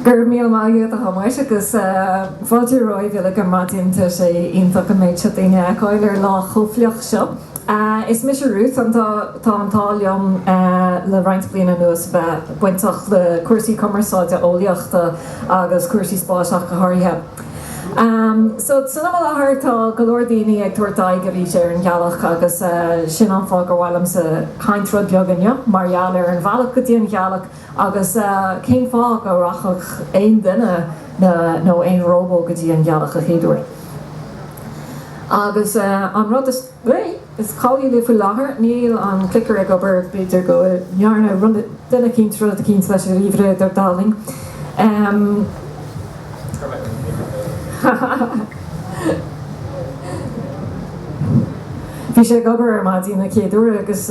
Go raibh míle maith agat a Thomáis agus fáilte romhaibh uilig ar maidin. Tá sé iontach an méid seo daoine a fheiceáil ar lá chomh fliuch seo. Is mise Ruth, an tá an t-ádh liom le roinnt bliana anuas bheith bainteach le cúrsaí cumarsáide eolaíochta agus cúrsaí spáis ach go háirithe. Só, san am i láthair tá go leor daoine ag tabhairt aghaidh arís ar an Ghealach agus sin an fáth gur mhaith liomsa caint rud beag inniu mar gheall ar an bhealach go dtí an Ghealach, Agus cén fáth go rachfadh aon duine nó aon róbó go dtí an ghealach a chéaduair? Agus an rud is cáiliúla faoi láthair, níl an clicker ag obair, b'fhéidir go ndearna duine eicínt rud eicínt leis an ríomhaire, ar ndóigh. Bhí sé ag obair ar maidin an chéad uair agus.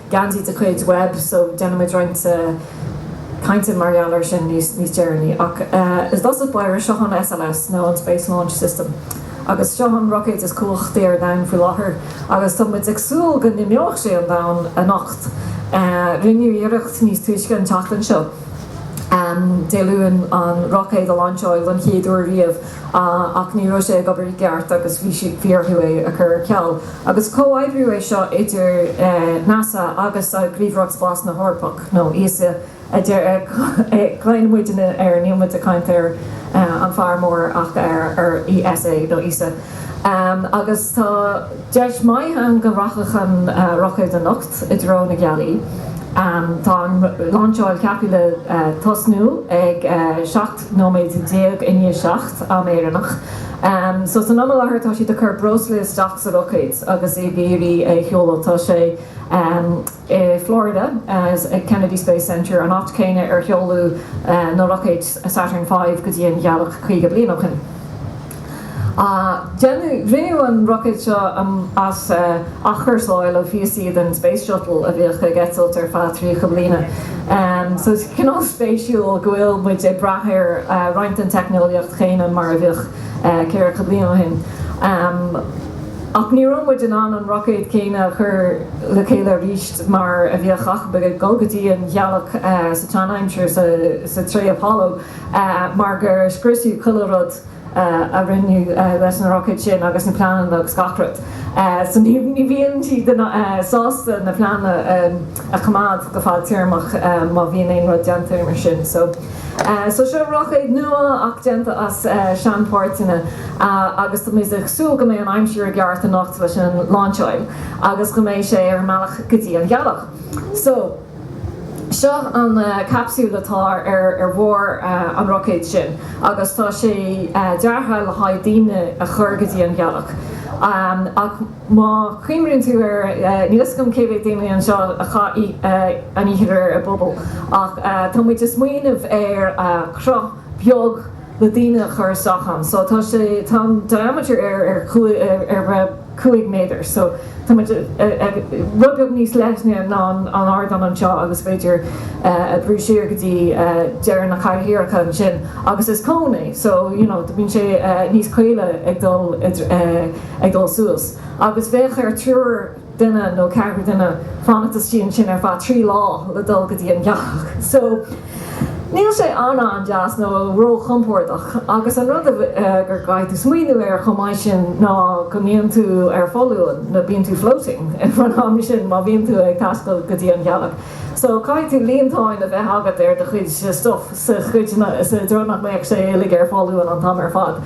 geansaí de chuid Webb so déanfaidh muid roinnt cainte mar gheall air sin níos deireanaí ach is dócha b'ea, seo an SLS nó an Space Launch System agus seo an roicéad is cumhachtaí ar domhan faoi láthair agus tá muid ag súil go n-imeoidh sé an domhan anocht, rinneadh iarracht níos túisce an tseachtain seo, Dé Luain, an roicéad a lainseáil don chéad uair riamh ach ní raibh sé ag obair i gceart agus bhí orthu é a chur ar ceal. Agus comhoibriú é seo idir NASA agus Gníomhaireacht Spáis na hEorpa, nó ESA agus cloífidh muidinne ar an nóiméad ag caint ar an fear mór ach ar ESA nó ESA. Agus tá deis mhaith ann go rachadh an roicéad anocht i dtreo na gealaí, tá an lainseáil ceaptha le tosnú ag 7 nóiméid déag i ndiaidh seacht, am Éireannach. So san am i láthair tá siad ag cur breosla isteach sa roicéad agus iad ag iarraidh é a sheoladh. Tá sé i Florida ag Kennedy Space Centre, an áit chéanna ar seoladh na roicéid Saturn V go dtí an Ghealach caoga bliain ó shin. Rinneadh an roicéad seo as athchúrsáil ó phíosaí den Space Shuttle a bhíodh ag eitilt ar feadh 30 bliana. So is cineál spéisiúil go bhfuil muid ag brath ar roinnt den teicneolaíocht chéanna mar a bhíodh ceathracha bliain ó shin. Ach ní raibh muid in ann an roicéad céanna a chur le chéile arís mar a bhíodh, chun bheith ag dul go dtí an ghealach sa tseanaimsir sa tréimhse Apollo. mar gur scriosadh chuile rud a rinneadh leis an roicéad sin agus na pleananna agus gach rud, so ní bhíonn siad sásta na pleananna a choimeád go fadtéarmach má bhíonn aon rud déanta mar sin, so seo roicéad nua ach déanta as seanpháirteanna agus tá muid ag súil go mbeidh an aimsir i gceart anocht leis an lainseáil agus go mbeidh sé ar an mbealach go dtí an ghealach, so. Seo an capsúl atá ar bharr an roicéid sin agus tá sé deartha le haghaidh daoine a chur go dtí an ghealach. Ach má chuimhníonn tú air, níl 'fhios agam cé mhéad daoine anseo a chaith an oíche i bpuball ach tá muid ag smaoineamh ar chruth beag, le daoine a chur isteach ann so tá sé, tá an diameter air ar, ar cúig méadar so tá muid ag, rud beag níos leithne ná an ardán anseo agus b'fhéidir a bhrú siar go dtí deireadh na cathaoireacha ansin agus is cón é so you know bíonn sé níos caoile ag dul, ag dul suas agus bheadh ar triúr, duine nó ceathrar duine fanacht istigh ansin ar feadh trí lá le dul go dtí an ghealach. So, níl sé an-an-deas nó ró-chompordach agus an rud a gur gcaithfidh tú smaoineamh air chomh maith sin ná go mbíonn tú ar foluain, nó bíonn tú floating ag an am sin má bhíonn tú ag taisteal go dtí an ghealach. So, caithfidh tú líontáin a bheith agat ar do chuid stuff i dtreo nach mbeadh sé uilig ar foluain an t-am ar fad.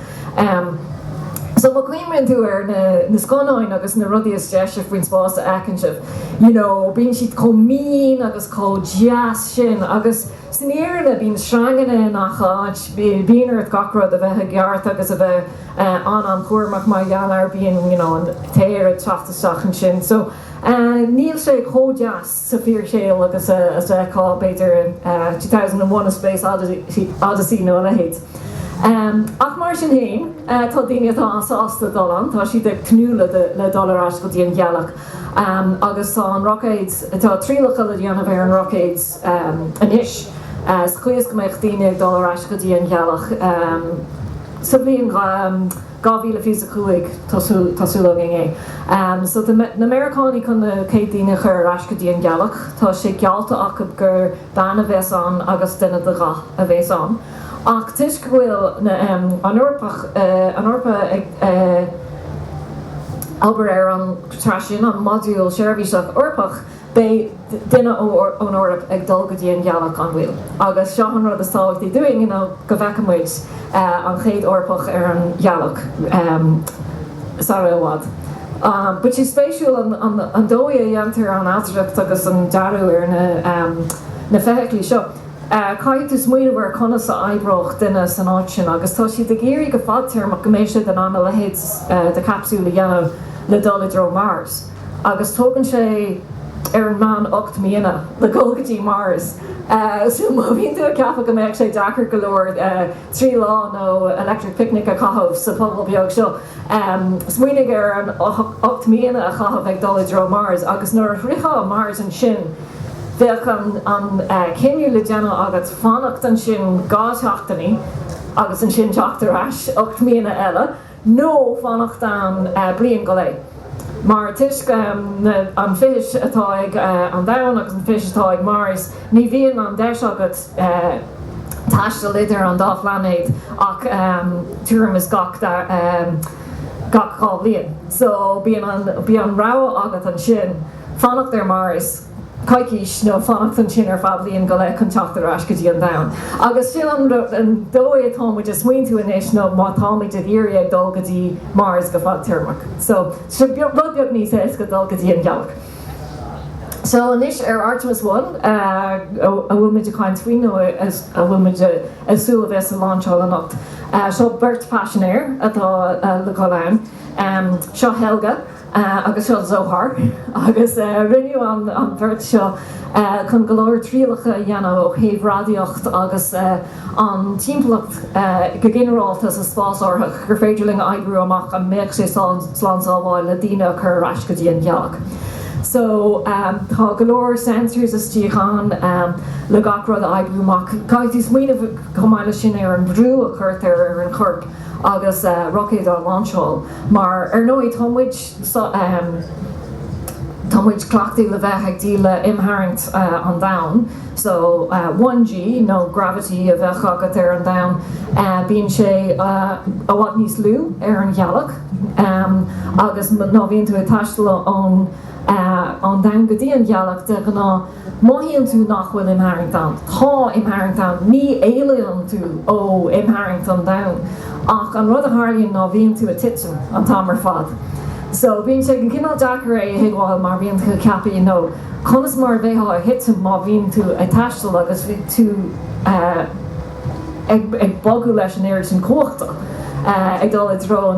So má chuimhníonn tú ar na na scannáin agus na rudaí is deise faoin spás a fheiceann sibh, you know, bíonn siad chomh mín agus chomh deas sin agus san fhírinne bíonn sreanganna i ngach áit, bíonn ort gach rud a bheith i gceart agus a bheith an-an-chúramach mar gheall air, bíonn, you know, an t-aer ag teacht isteach ansin, so níl sé chomh deas. sa bhfíorshaol agus a fheicfeá, b'fhéidir, in two thousand and one, a space oddity, odyssey nó a leithéid. Ach mar sin féin, tá daoine atá an-sásta dul ann, tá siad ag tnúth le dul ar ais go dtí an ghealach agus tá an roicéad, tá triallacha le déanamh ar an roicéad anois sa chaoi is go mbeadh daoine ag dul ar ais go dtí an ghealach sa bhliain dhá mhíle fiche is a cúig, tá súil againn. So tá na Meiriceánaigh chun na chéad daoine a chur ar ais go dtí an ghealach. Tá sé geallta acu gur bean a bheas ann agus duine de dhath a bheas ann. Ach toisc go bhfuil na, an Eoraip ag obair ar an tráth sin an modúl seirbhíseach Eorpach, Beidh duine ón Eoraip ag dul go dtí an Ghealach, gan mhoill, agus seo an rud is tábhachtaí dúinn, go bhfeice muid an chéad Eorpach ar an Ghealach sara i bhfad. Beidh sé spéisiúil an dóigh a dhéantar an ailtireacht agus an dearadh ar na feithiclí seo. Caithfidh tú smaoineamh ar conas a oibreodh duine san áit sin agus tá siad ag iarraidh go fadtéarmach go mbeidh siad in ann a leithéid de chapsúl a dhéanamh le dul i dtreo Mars. agus tógann sé ar an meán ocht míonna le dhul go dtí Mars. So má bhíonn tú ag ceapadh go mbeadh sé deacair go leor trí lá nó electric picnic a chaitheamh sa phuball beag seo, smaoinigh ar an ocht míonna a chaitheamh ag dul i dtreo Mars agus nuair a shroichfeá Mars ansin bheadh an cinneadh le déanamh agat fanacht ansin dhá seachtainí agus ansin teacht ar ais ocht míonna eile. nó fanacht ann bliain go leith, mar toisc an fithis atá ag an domhan agus an fithis atá ag Mars, ní bhíonn an deis agat taisteal idir an dá phlainéad ach tuairim is gach dhá bhliain. So bíonn an rogha agat ansin fanacht ar Mars, coicís nó fanacht ansin ar feadh bliain go leith chun teacht ar ais go dtí an domhan. Agus sin an dóigh atá muid ag smaointiú anois ó má táimid ag iarraidh ag dul go dtí Mars go fadtéarmach so rud beag níos éasca dul go dtí an ghealach. So anois ar Artemis One a bhfuil muid ag caint faoi nó a bhfuil muid ag súil a bheas a lainseáil anocht, seo beirt phaisinéir atá le dhul ann, seo Helga Agus seo Zohar. Agus rinneadh an bheirt seo chun go leor trialacha a dhéanamh ó thaobh radaíocht agus an timpeallacht go ginearálta sa spásárthach gur féidir linn a oibriú amach an mbeadh sé slán sábháil na daoine a chur ar ais go dtí an ghealach. So tá go leor sensors istigh ann le gach rud a oibriú amach. Caithfidh tú smaoineamh chomh maith leis sin ar an bhrú a chuirtear ar an chorp agus roicéad á lainseáil. Mar ar ndóigh tá muid, tá muid cleachtaithe le bheith ag déileáil le imtharraingt an domhain, so one G nó gravity a bheadh agat ar an domhan, bíonn sé i bhfad níos lú ar an ghealach agus má bhíonn tú ag taisteal ón domhain go dtí an ghealach de ghnáth, Mothaíonn tú nach bhfuil imtharraingt ann, tá imtharraingt ann, ní éalaíonn tú ó imtharraingt an domhain, ach an rud a tharlaíonn ná bíonn tú ag titim an t-am ar fad. So, bíonn sé cineál deacair é a thuigbheáil mar bíonn tú ag ceapadh you know conas mar a bheifeá ag titim má bhíonn tú ag taisteal agus bhí tú eh, ag bogadh leis an oiread sin cumhachta ag dul i dtreo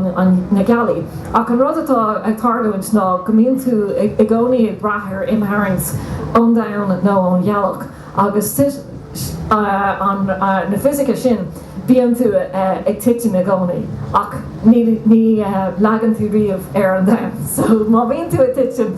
na gealaí. Ach an rud atá ag tarlúint ná go mbíonn tú i gcónaí ag brath ar imtharraingt ón domhan nó ón ghealach agus tríd na fisice sin bíonn tú ag titim i gcónaí ach ní leagann tú riamh ar an domhan so má bhíonn tú ag titim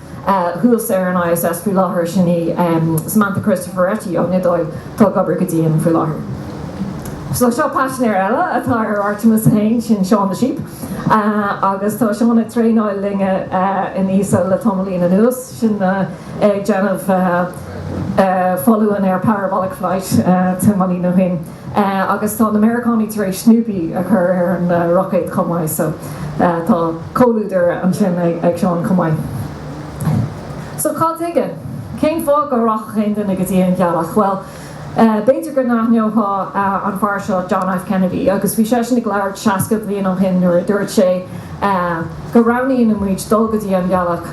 thuas ar an ISS faoi láthair, sin í Samantha Cristoforetti ón Iodáil, atá ag obair go dian faoi láthair. So, seo paisinéir eile atá ar Artemis 1, sin Shaun the Sheep, agus tá Shaun ag traenáil linne in ESA le tamaillín anuas, sin é ag déanamh foluain ar parabolic flight tamaillín ó shin. Agus tá na Meiriceánaigh tar éis Snoopy a chur ar an roicéad chomh maith, so tá comhluadar ansin ag Shaun chomh maith. So cad tuige? Cén fáth go rachadh aon duine go dtí an ghealach? Bhuel, b'fhéidir go n-aithneofá an fear seo, John F. Kennedy, agus bhí seisean ag labhairt seasca bliain ó shin nuair a dúirt sé go roghnaíonn muid dul go dtí an ghealach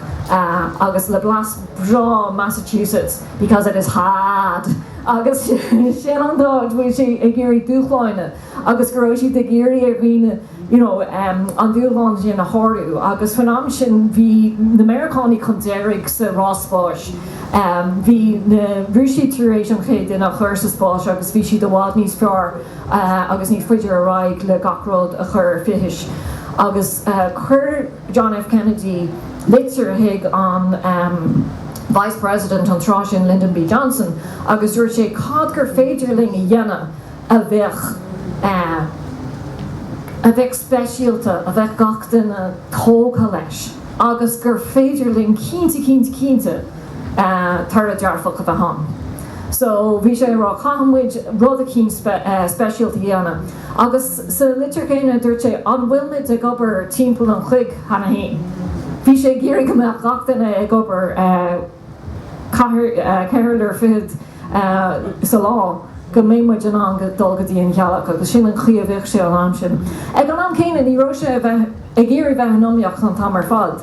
agus le blas breá Massachusetts, because it is hard! Agus sin an dóigh go bhfuil sé ag iarraidh dúshláine agus go raibh siad ag iarraidh ar dhaoine you know an dúshlán sin a shárú agus faoin am sin bhí na Meiriceánaigh chun deiridh sa rás spáis. Bhí na Rúisigh tar éis an chéad duine a chur sa spás agus bhí siad i bhfad níos fearr agus níos faide ar aghaidh le gach rud a chur ar fithis agus chuir John F. Kennedy litir chuig an Vice President an tráth sin, Lyndon B. Johnson, agus dúirt sé, Cad gur féidir linn a dhéanamh a bheadh, a bheadh speisialta, a bheadh gach duine tógtha leis agus gur féidir linn cinnte, cinnte, cinnte toradh dearfach a bheith ann? So bhí sé ag rá, caithfidh muid rud eicínt speisialta a dhéanamh. Agus sa litir chéanna, dúirt sé, An bhfuilmid ag obair timpeall an chloig cheana fhéin? Bhí sé ag iarraidh go mbeadh gach duine ag obair ceithre n-uaire fichead sa lá, go mbeidh muid in ann go dul go dtí an ghealach, agus sin an chaoi a mbíodh sé an t-am sin. Ag an am céanna, ní raibh sé ag iarraidh bheith in iomaíocht an t-am ar fad.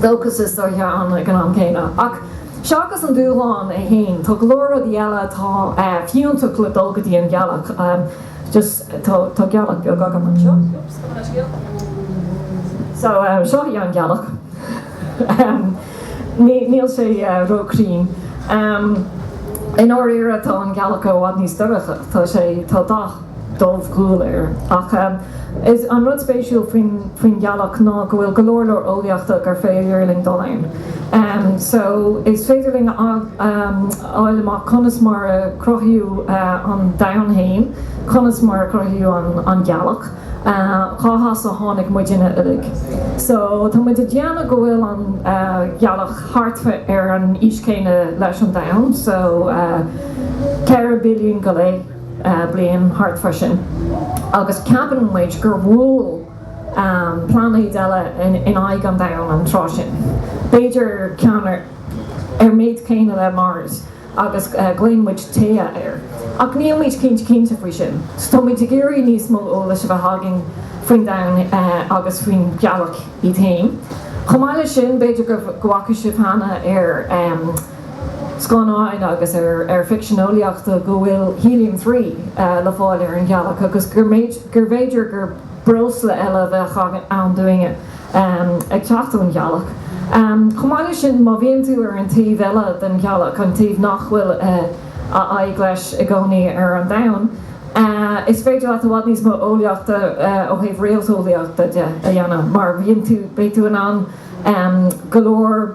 Dóchas is dóichí ann ag an am céanna. Ach seachas an dúshlán é fhéin, tá go leor rudaí eile atá fiúntach le dul go dtí an ghealach. just tá gealach beag agam anseo. so seo í an ghealach. níl sé ró chruinn. i ndáiríre tá an ghealach i bhfad níos dorcha. tá sé. tá dath. dúghual air. Ach is é an rud spéisiúil faoin ghealach ná go bhfuil go leor leor eolaíochta arbh fhéidir linn dul ann. So, is féidir linn a fháil amach conas mar a cruthaíodh an domhan fhéin, conas mar a cruthaíodh an ghealach, cá has ar tháinig muidne uilig. So, tá muid ag déanamh go bhfuil an ghealach thart fá ar an aois chéanna leis an domhan, so, ceithre billiún go leith. bliain thart fá sin agus ceapann muid gur bhuail pláinéad eile in aghaidh an domhain an tráth sin, b'fhéidir ceann ar an méid céanna le Mars agus glaonn muid Theia air. Ach nílmid cinnte cinnte faoi sin, so táimid ag iarraidh níos mó eolais a bheith againn faoin domhan agus faoin ghealach í fhéin. Chomh maith leis sin, b'fhéidir go bhfaca sibh cheana ar. scannáin agus ar ficsean eolaíochta go bhfuil Helium Three le fáil ar an Ghealach agus gurbh fhéidir gur breosla eile a bheadh ann dúinne ag teacht ón Ghealach. Chomh maith leis sin, má bhíonn tú ar an taobh eile den Ghealach, an taobh nach bhfuil a aghaidh leis i gcónaí ar an Domhan, is féidir leat i bhfad níos mó eolaíochta, ó thaobh réalteolaíochta de, a dhéanamh mar beidh tú in ann go leor.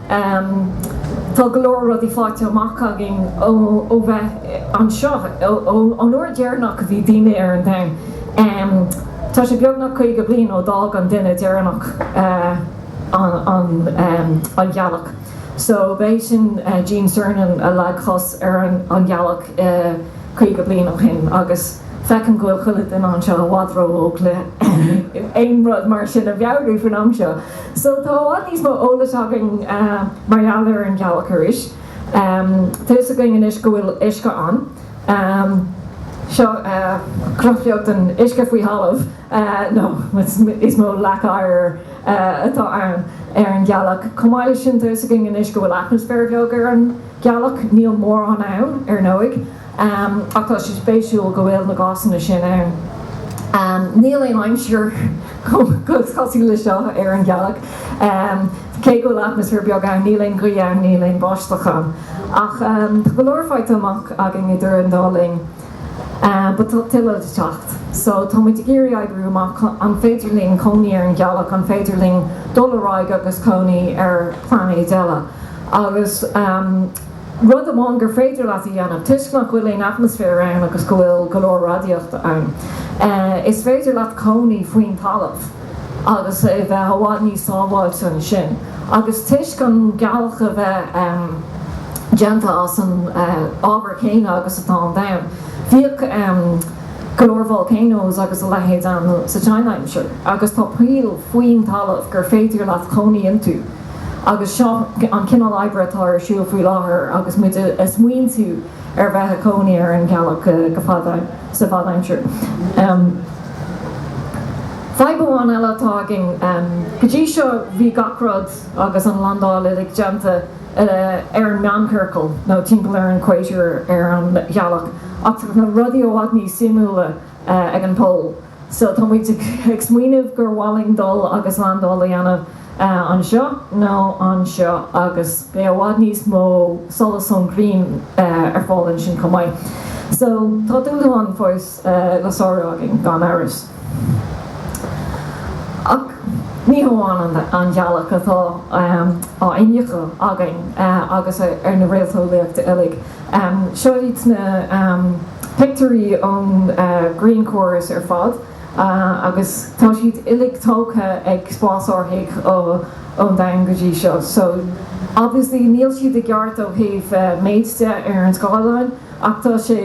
Tá go leor rudaí faighte amach againn ó bheith anseo. Ón uair dheireanach a bhí daoine ar an domhan, tá sé beagnach 50 bliain ó d'fhág an duine deireanach an ghealach. So, b'é sin Gene Cernan a leag cos ar an ghealach 50 bliain ó shin agus feicim go bhfuil chuile dhuine anseo i bhfad ró-óg le haon rud mar sin a mheabhrú faoin am seo. So tá i bhfad níos mó eolais againn mar gheall ar an ghealach arís. Tá fhios againn anois go bhfuil uisce ann. Seo cruthúnas den uisce faoi thalamh, nó is mó leac oighir atá ann, ar an ghealach. Chomh maith leis sin, tá fhios againn anois go bhfuil atmaisféar beag ar an ghealach. Níl mórán ann, ar ndóigh. ach tá sé spéisiúil go bhfuil na gásanna sin ann. Níl aon aimsir cosúil leis seo ar an ghealach. Cé go bhfuil atmaisféar beag ann, níl aon ghaoth ann, níl aon bháisteach ann. Ach tá go leor faighte amach againn idir an dá linn. But tá tuilleadh le teacht. So tá muid ag iarraidh oibriú amach an féidir linn cónaí ar an ghealach, an féidir linn dul ar aghaidh agus cónaí ar phláinéid eile. Agus. Rud amháin gur féidir leat a dhéanamh, toisc nach bhfuil aon atmaisféar ann agus go bhfuil go leor radaíochta ann, is féidir leat cónaí faoin talamh agus a bheith i bhfad níos sábháilte ansin. Agus toisc an ghealach a bheith déanta as an ábhar céanna agus atá an domhan, bhíodh go leor volcanos agus a leithéid ann sa tseanaimsir agus tá poill faoin talamh gur féidir leat cónaí iontu. Agus seo an cineál oibre atá ar siúl faoi láthair agus muid ag smaointiú ar bheith ag cónaí ar an ghealach go fada sa bhfadaimsir. Fadhb amháin eile atá againn, go dtí seo bhí gach rud agus an landáil uilig déanta ar an meánchiorcal nó timpeall ar an equator ar an ghealach, ach tá rudaí i bhfad níos suimiúla ag an Pol. So, tá muid ag smaoineamh gur mhaith linn dul agus landáil a dhéanamh anseo nó anseo agus beidh i bhfad níos mó solas ón ghrian ar fáil ansin chomh maith. So, tá dúshlán fós le sárú againn gan amhras. Ach ní hamháin an ghealach atá á iniuchadh againn agus ar na réalteolaithe uilig. Seo iad na pictiúirí ón ghrianchóras ar fad agus tá siad uilig tógtha ag spásárthaigh ón domhan go dtí seo. So, obviously níl siad i gceart ó thaobh méid de ar an scáileán ach tá sé.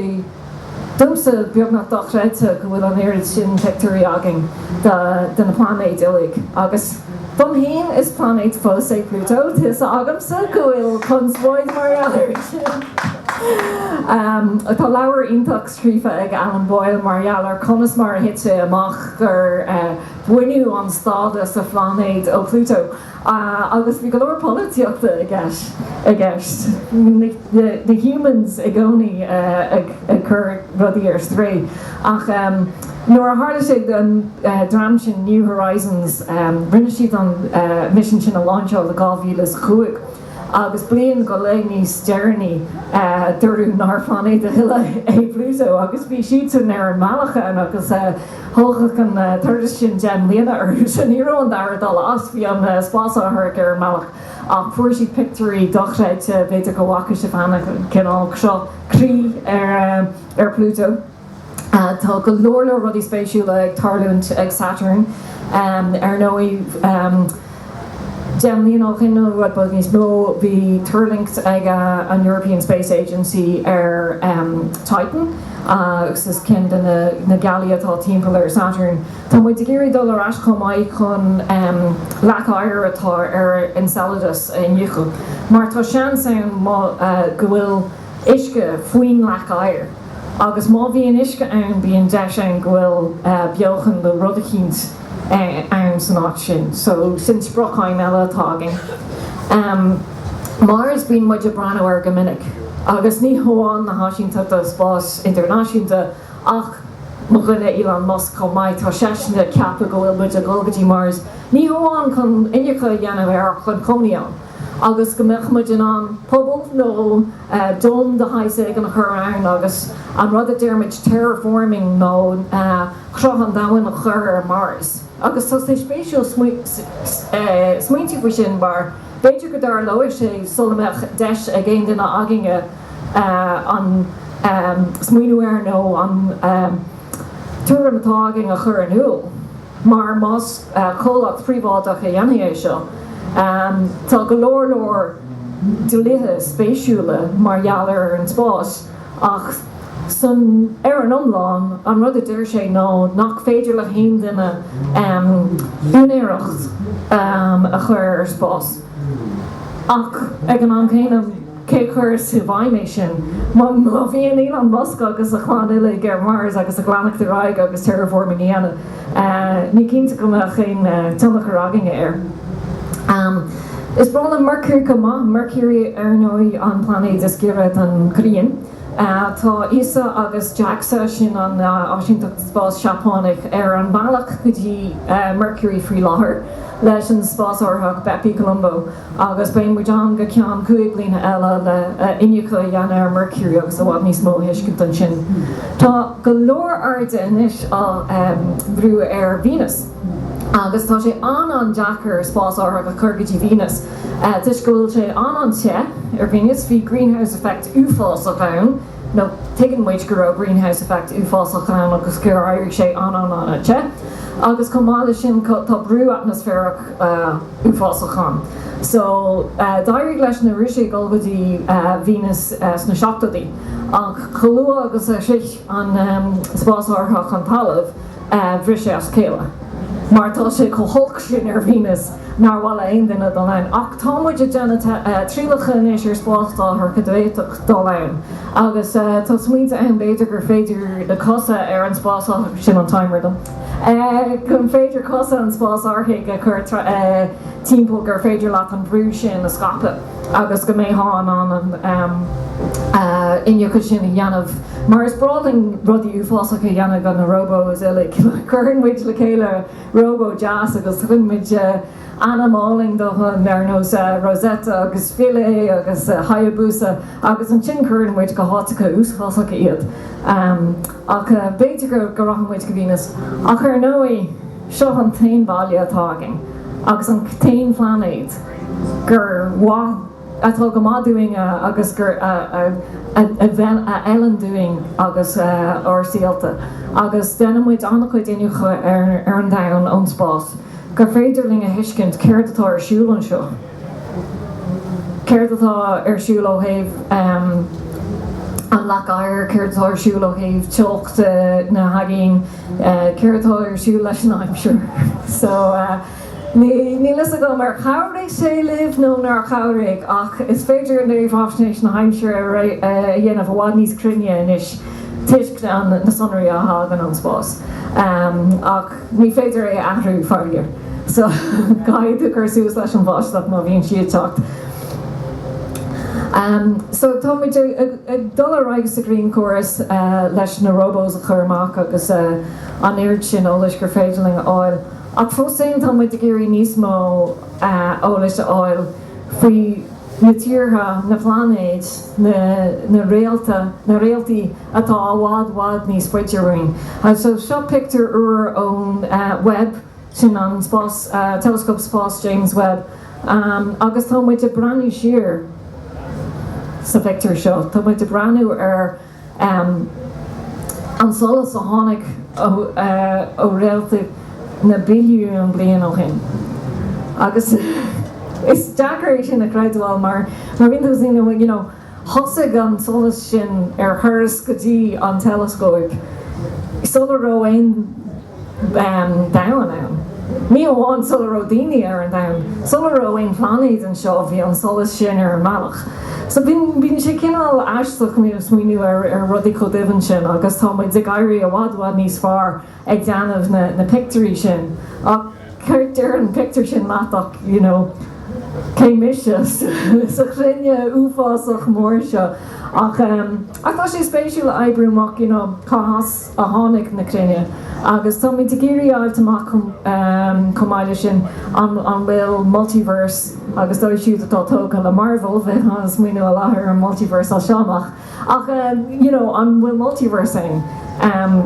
Domhsa, beagnach dochreidte go bhfuil an oiread sin pictiúirí againn de na plainéid uilig, agus dom fhéin, is plainéad fós é Pluto, tá a fhios agamsa go bhfuil conspóid mar gheall air! Tá leabhar iontach scríofa ag Alan Boyle mar gheall ar conas mar a thit sé amach gur baineadh an stádas de phláinéad ó Pluto, Agus bhí go leor polaitíochta i gceist, na humans i gcónaí ag cur rudaí ar strae, ach nuair a tharla sé don dream sin New Horizons, rinne siad an misean sin a láinseáil i 2005. agus bliain go leith níos deireanaí dúradh nár phláinéad a thuilleadh é Pluto, agus bhí siadsan ar an mbealach ann, agus thógfadh an turas sin deich mbliana orthusan. Ní raibh an dara dul as, bhí an spásárthach ar an mbealach, ach fuair siad pictiúirí dochreidte, b'fhéidir go bhfaca sibh cheana an cineál seo, croí ar Pluto. Tá go leor leor rudaí spéisiúla ag tarlúint ag Saturn ar ndóigh. Deich mbliana ó shin nó rud beag níos mó, bhí tuirlingt ag an European Space Agency ar Titan agus is sin ceann de na gealaí atá timpeall ar Saturn. Tá muid ag iarraidh dul ar ais chomh maith chun leac oighir atá ar Enceladus a iniúchadh mar tá seans ann go bhfuil. uisce faoin leac oighir agus má bhíonn uisce ann bíonn deis ann go bhfuil beochan nó rud eicínt ann san áit sin so sin sprioc-aidhm eile atá againn. Mars, bíonn muid ag breathnú air go minic agus ní hamháin na háisínteachta spáis idirnáisiúnta ach mo dhuine Elon Musk chomh maith, tá seisean ag ceapadh go bhfuil muid ag dhul go dtí Mars ní hamháin chun iniúchadh a dhéanamh air ach chun cónaí ann. agus go mbeadh muid in ann puball nó dome de shaghas éigin a chur ann agus an rud a deir muid terraforming nó cruth an domhain a chur ar Mhars. Agus tá sé spéisiúil smaoineamh faoi sin mar b'fhéidir go dtarlóidh sé sula mbeadh deis ag aon duine againne smaoineamh air nó an tuairim atá againn a chur in iúl. mar más comhlacht príobháideach a dhéanfaidh é seo, tá go leor leor dlíthe spéisiúla mar gheall ar an spás, ach san ar an iomlán, an rud a deir sé ná nach féidir le haon duine úinéireacht a chur ar spás, ach ag an am céanna, Cé a chuirfeas i bhfeidhm é sin? Má bhíonn Elon Musk agus a chlann uilig ar Mars agus ag leanacht ar aghaidh agus terraforming a dhéanamh, ní cinnte go mbeadh aon tionchar againne air. Is breá liom Mercury chomh maith, Mercury ar ndóigh, an plainéad is giorra don ghrian. Tá ESA agus Jaxa, sin an áisínteacht spáis Seapánach, ar an bhealach go dtí Mercury faoi láthair leis an spásárthach Bepi Colombo. agus beidh muid ann go ceann cúig bliana eile le iniúchadh a dhéanamh ar Mercury agus i bhfad níos mó a thuiscint ansin. Tá go leor airde anois á dhíriú ar Venus agus tá sé an-an-deacair spásárthach a chur go dtí Venus toisc go bhfuil sé an-an-te ar Venus, bhí greenhouse effect uafásach ann, nó tuigeann muid go raibh greenhouse effect uafásach ann agus gur éirigh sé an-an-an-te, agus chomh maith leis sin tá brú atmaisféarach uafásach ann. So, d'éirigh leis na Rúisigh dul go dtí Venus sna seachtóidí, ach chomh luath agus a shroich an spásárthach an talamh, bhris sé as a chéile, mar tá sé chomh holc sin ar Venus nár mhaith le haon duine dul ann. Ach tá muid ag déanamh trialacha anois ar spásárthach go bhféadfadh dul ann, agus tá smaointe ann, b'fhéidir gur féidir na cosa ar an spásárthach sin, an Timer, don. Gur féidir cosa an spásárthaigh a chur timpeall gur féidir leat an brú sin a scaipeadh agus go mbeitheá in ann an iniúchadh sin a dhéanamh. Mar is breá linn rudaí uafásacha a dhéanamh do na róbós uilig, cuireann muid le chéile róbó deas agus tugann muid Ainm álainn dóibh ar nós Rosetta agus Philae agus Hayabusa agus ansin cuireann muid go háiteacha uafásacha iad. Ach b'fhéidir go rachaidh muid go Venus. Ach ar ndóigh, seo an t-aon bhaile atá againn agus an t-aon phlainéad gur mhaith, atá go maith dúinn agus gur, a fheileann dúinn agus dár saolta. Agus déanann muid an-chuid iniúchadh ar an domhan ón spás. gur féidir linn a thuiscint céard atá ar siúl anseo, céard atá ar siúl ó thaobh an leac oighir, céard atá ar siúl ó thaobh teocht na n-aigéan, céard atá ar siúl leis an aimsir. So, níl fhios agam ar chabhraigh sé libh nó nár chabhraigh, ach is féidir réamhaisnéis na haimsire a dhéanamh i bhfad níos cruinne anois toisc na sonraí a thagann ón spás. Ní féidir é a athrú, faraor, so caithfidh tú cur suas leis an bháisteach má bhíonn sí ag teacht. So tá muid ag dul ar aghaidh sa ghrianchóras leis na robos a chur amach agus an oiread sin eolais gur féidir linn a fháil, ach fós féin tá muid ag iarraidh níos mó eolais a fháil faoi na tíortha, na pláinéid, na réalta, na réaltaí atá i bhfad bhfad níos faide uainn. So seo pictiúr úr ón Webb, sin an spás teileascóp spáis James Webb agus tá muid ag breathnú siar sa phictiúr seo, tá muid ag breathnú ar. an solas a tháinig ó réalta na billiúin bliain ó shin. Agus is deacair é sin a chreidbheáil mar bíonn tú san, you know, thosaigh an solas sin ar thuras go dtí an teileascóip sula raibh aon, domhan ann. Ní amháin sula raibh daoine ar an domhan, sula raibh aon phlainéid anseo, bhí an solas sin ar an mbealach. So, bíonn sé cineál aisteach nuair a smaoiníonn tú ar rudaí chomh doimhin sin agus tá muid ag éirí i bhfad, bhfad níos fearr ag déanamh na pictiúirí sin ach céard déarfaidh an pictiúr sin leat ach you know cé mise sa chruinne uafásach mór seo ach tá sé spéisiúil a oibriú amach you know cá as a tháinig na cruinne agus táimid ag iarraidh a fháilt amach chomh maith leis sin an bhfuil multiverse agus dóibh siúd atá tógtha le Marvel beidh siad ag smaoineamh láithreach ar an multiverse as seo amach ach you know an bhfuil multiverse ann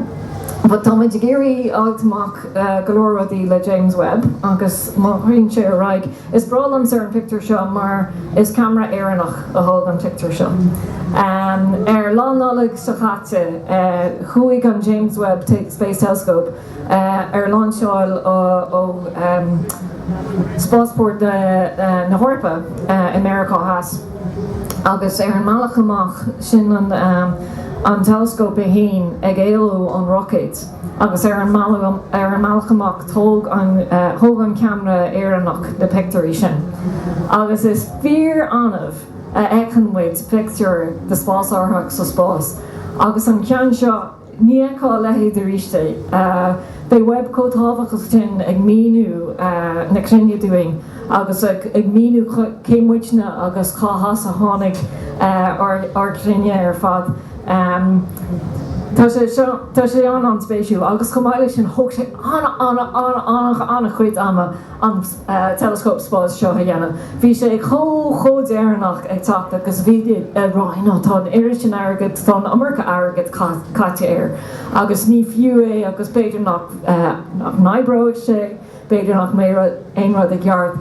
but táimid ag iarraidh a fháilt amach go leor rudaí le James Webb agus má théann sé ar aghaidh Is breá liomsa an pictiúr seo mar is ceamara Éireannach a thóg an pictiúr seo. Ar Lá Nollag seo chaite chuaigh an James Webb Space Telescope ar lainseáil ó spásport na hEorpa i Meiriceá Theas agus ar an mbealach amach sin an teileascóp é fhéin ag éalú ón roicéad. agus ar an mbealach amach tóg an thóg an ceamara Éireannach na pictiúirí sin agus is fíor annamh a fheiceann muid pictiúr de spásárthach sa spás agus an ceann seo ní fheicfear a leithéid aríst. Beidh Webb chomh tábhachtach sin ag míniú na cruinne dúinn agus ag míniú cé muidne agus cá as a tháinig ár gcruinne ar fad. Tá sé seo, tá sé an an spéisiúil agus chomh maith leis sin thóg sé ana ana ana ana ana chuid ama an teileascóp spáis seo a dhéanamh. Bhí sé chomh, chomh deireanach ag teacht agus bhí siad ag rá you know tá an oiread sin airgead, tá an iomarca airgead caite air agus ní fiú é agus b'fhéidir nach, nach n-oibreoidh sé, b'fhéidir nach mbeidh aon rud ag obair i gceart.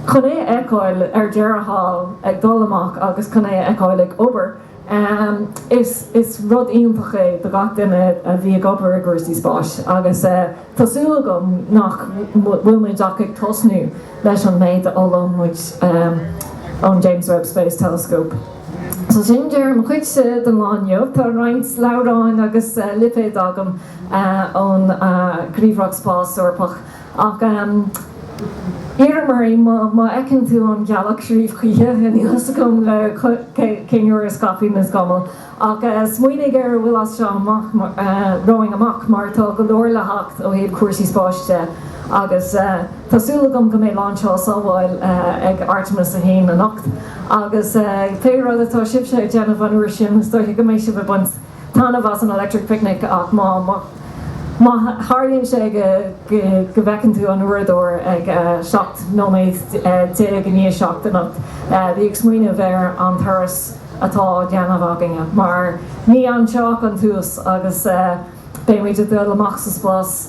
Chun é a fheiceáil ar deireadh thall ag dul amach agus chun é a fheiceáil ag obair, Ahem, is, is rud iontach é do gach duine a bhí ag obair i gcúrsaí spáis agus eh tá súil agam nach bhfuil muid ach ag tosnú leis an méid a fhoghlaimeoidh muid ahem ón James Webb Space Telescope. So sin deireadh mo chuidse don lá inniu, tá roinnt leabhráin agus eh lipéid agam eh ón eh Ghníomhaireacht Spáis Eorpach, Ach iarraim oraibh, má fheiceann tú an ghealach siúd choíche, níl a fhios agam cén uair a scaipfidh na scamaill, ach smaoinigh ar a bhfuil as seo amach, romhainn amach, mar tá go leor le theacht ó thaobh cúrsaí spáis de, agus tá súil agam go mbeidh lainseáil sábháilte ag Artemis 1 anocht, agus pé rud atá sibhse ag déanamh an uair sin, is dóigh go mbeidh sibh ag baint taitneamh as an Electric Picnic ach má tharlaíonn sé go bhfeiceann tú an uaireadóir ag 17 nóiméad i ndiaidh 7 anocht, bí ag smaoineamh ar an turas atá á dhéanamh againne mar ní anseo ach an tús agus beidh muid ag dul amach sa spás!